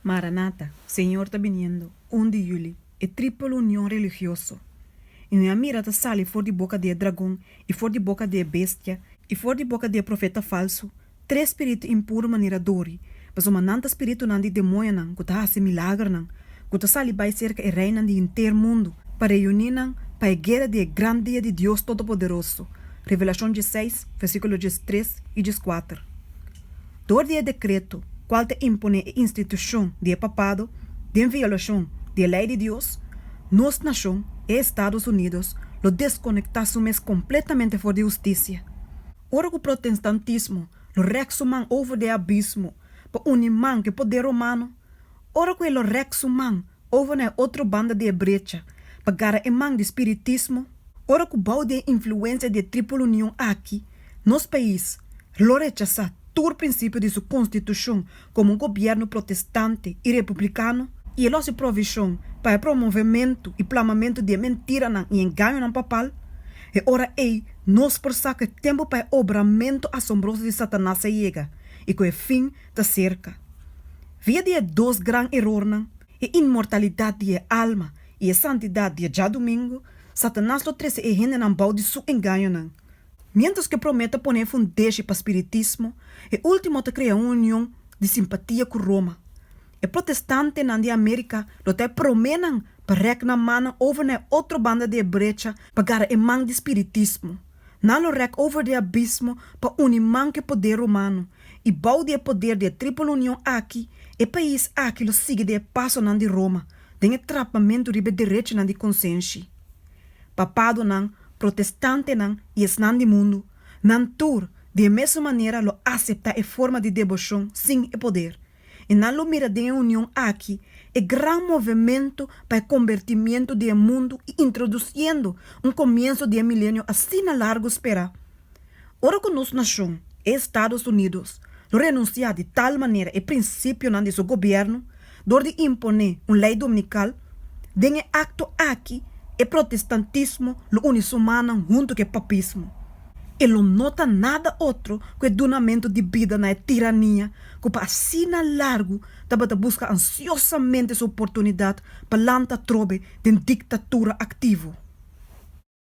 Maranata, Señor ta biniendo, un di yuli, e tripel union religioso, i un a mira ta sali for di boka di e dragon, i for di boka di e bestia, i for di boka di e profeta falsu, tres spiritu impuru manera dori, pasobra nan ta spiritunan di demoñonan ku ta hasi milagernan, ku ta sali bai serka e reinan di henter mundu, pa reuní nan pa e guera di e gran dia di Dios Todopoderoso. Revelashon diesseis, versíkulo diestres i dieskuater. dor di e dekreto kual ta imponé e institushon di e papado den violashon di e lei di Dios, nos nashon, e Estados Unidos, lo deskonektá su mes kompletamente for di hustisia. Ora ku protenstantismo lo rèk su man over di e abismo pa uni man ku e poder romano, ora ku e lo rèk su man over na e otro banda di e brecha pa gara e man di spiritismo, ora ku bou di e influensia di e tripel union aki Nos pais lo rechasá tur prinsipio di su konstitushon komo un gobièrnu protestante i republikano, i e lo hasi provishon pa e promovementu i plamamentu di e mentiranan i engañonan papal, e ora ei nos por sa ku e tempu pa e obramentu asombroso di Satanas a yega i ku e fin ta serka. Via di e dos gran erornan, e inmortalidat di e alma i e santidat di e djadumingu, Satanas lo trese e hendenan bou di su engañonan. Miéntras ku e promé ta pone e fundeshi pa spiritismo, e último ta krea un union di simpatia ku Roma. E protestantenan di Amérika lo ta e proménan pa rèk nan mannan over na e otro banda di e brecha pa gara e man di spiritismo. Nan lo rèk over di e abismo pa uni man ku e poder romano, i bou di e poder di e Triple Union aki, e pais aki lo sigui den e pasonan di Roma, den e trapamentu riba e derechinan di konsenshi. Papadonan, protestantenan i esnan di mundu, nan tur di e mesun manera lo aseptá e forma di debocion sin e poder, i nan lo mira den e union aki e gran movementu pa e kombertimientu di e mundu i introdusiendo un komienso di e milenio asina largu sperá. Ora cu nos nacion, Estados Unidos, lo renuncia di tal manera e principionan di su gobierno door di impone un ley dominical, den e acto aki e protestantismo lo uni su mannan hunto cu e papismo. E lo no ta nada otro cu e dunamento di bida na e tirania cu pa asina largu tabata busca ansiosamente su oportunidad pa lanta trobe den dictatura activo.